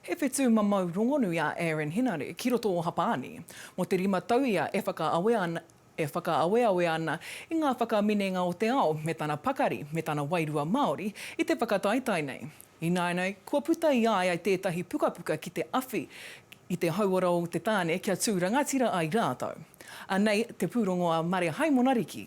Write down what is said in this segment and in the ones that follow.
He whetū mamau rongonui a Aaron Henare ki roto o Hapāni. Mō te rima tau ia e whakaawe ana, e whakaaweawe ana i ngā whakaminenga o te ao me tana pakari, me tana wairua Māori i te whakataetae nei. Ināianei, kua puta i a ia tētahi pukapuka ki te awhi i te hauora o te tāne kia tū rangatira ai rātou. Anei te pūrongo a Mare Haimonariki.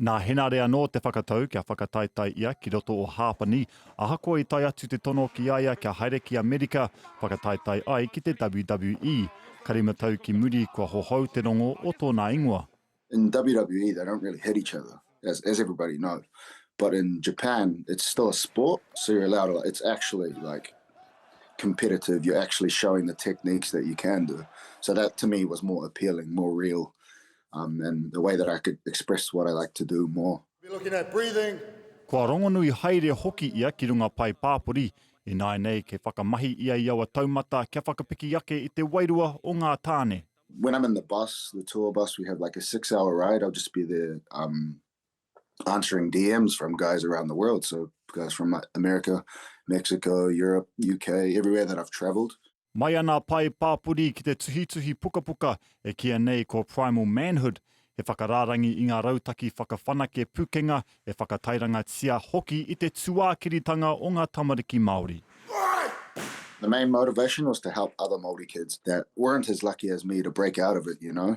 Nā Henare anō te whakatau kia whakataetae ia ki roto o Hāpani, ahakoa i tae atu te tono ki a ia kia haere ki Amerika whakataetae ai ki te WWE. Ka rima tau ki muri kua hohou te rongo o tōna ingoa. In WWE they don't really hit each other as as everybody know but in Japan it's still a sport so you're allowed to it's actually like competitive you're actually showing the techniques that you can do so that to me was more appealing more real um, and the way that I could express what I like to do more. Be looking at breathing. Kua rongonui haere hoki ia ki runga pae pāpori, ināinei kei whakamahi ia i aua taumata kia whakapiki ake i te wairua o ngā tāne. When I'm in the bus, the tour bus, we have like a six hour ride, I'll just be there um, answering DMs from guys around the world. So guys from uh, America, Mexico, Europe, UK, everywhere that I've traveled. Mai ana pae pāpori ki te tuhituhi pukapuka e kia nei ko Primal Manhood, he whakarārangi i ngā rautaki whakawhanake pukenga e whakatairangatia hoki i te tuākiritanga o ngā tamariki Māori. The main motivation was to help other Māori kids that weren't as lucky as me to break out of it, you know.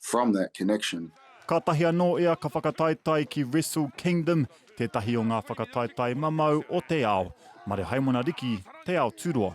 from that connection. Kātahi anō ia ka whakataetae ki Wrestle Kingdom, tētahi o ngā whakataetae mamau o te ao. Mare Haimona Riki, Te Ao Tūroa.